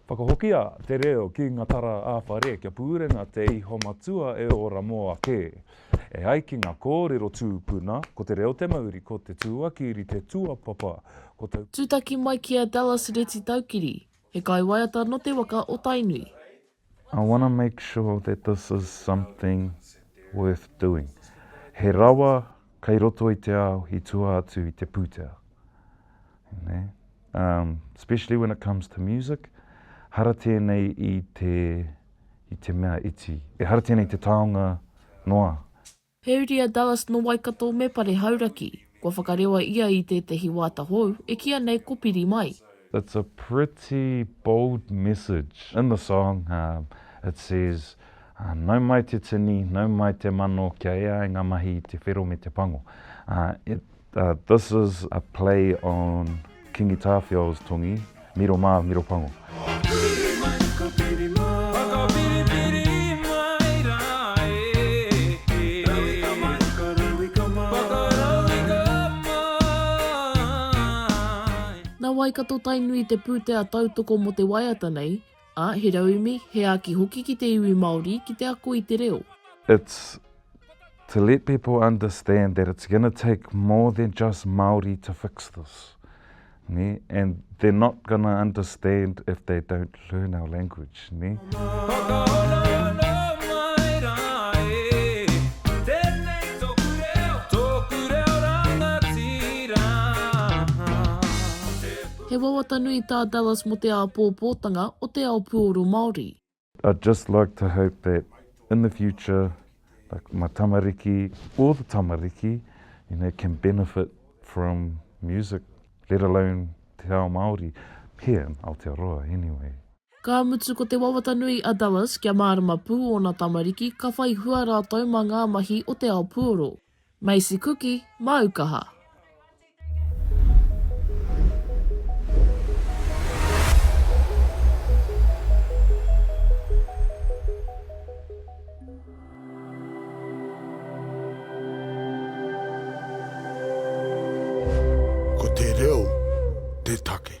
Whakahokia te reo ki nga tara ā-whare kia pūrenga te iho matua e ora mō ake. E ai ki nga kōrero tūpuna, ko te reo te mauri, ko te tūakiri te tuapapa, ko te. Tūtaki mai ki a Dallas Retitaukiri, he kaiwaiata nō te waka o Tainui. I wanna make sure that this is something worth doing. He rawa kei roto i te ao i tua atu i te pūtea. Especially when it comes to music, hara tēnei i te mea iti, ehara tēnei i te taonga noa. Heuri a Dallas nō Waikato me Pare Hauraki. Kua whakarewa ia i tētehi wāta hou, e kīa nei ko Piri Mai. It's a pretty bold message. In the song, it says, Nau mai te tini, nau mai te mano kia ea ai ngā mahi i te whero me te pango. It. This is a play on Kingi Tāwhiao's tongi, Miro mā, miro pango. Whiri mai, ka whiri mai. Whakawhiriwhiri mai rā e. Rauika mai, ka rauika mai. Whakarauika mai. Nā wai ka to Tainui te pūtea tautoko mō te waiata nei? Ā, he raumi, he āki hoki ki te iwi Māori, ki te ako i te reo. It's to let people understand that it's gonna take more than just Māori to fix this, nē, and they're not gonna understand if they don't learn our language, nē. Whakahonohono mai rā e, tēnei tōku reo, tōku reo rangatira. He wawata nui tā Dallas mō te āpōpōtanga o te ao puoro Māori. I'd just like to hope that in the future like my tamariki or the tamariki you know can benefit from music let alone te ao Māori here in Aotearoa anyway. Ka mutu ko te wawata nui a Dallas kia mārama pū ōna tamariki ka whai hua rātou mā ngā mahi o te ao puoro. Macy Kuki, māu kaha. Ko te reo te take.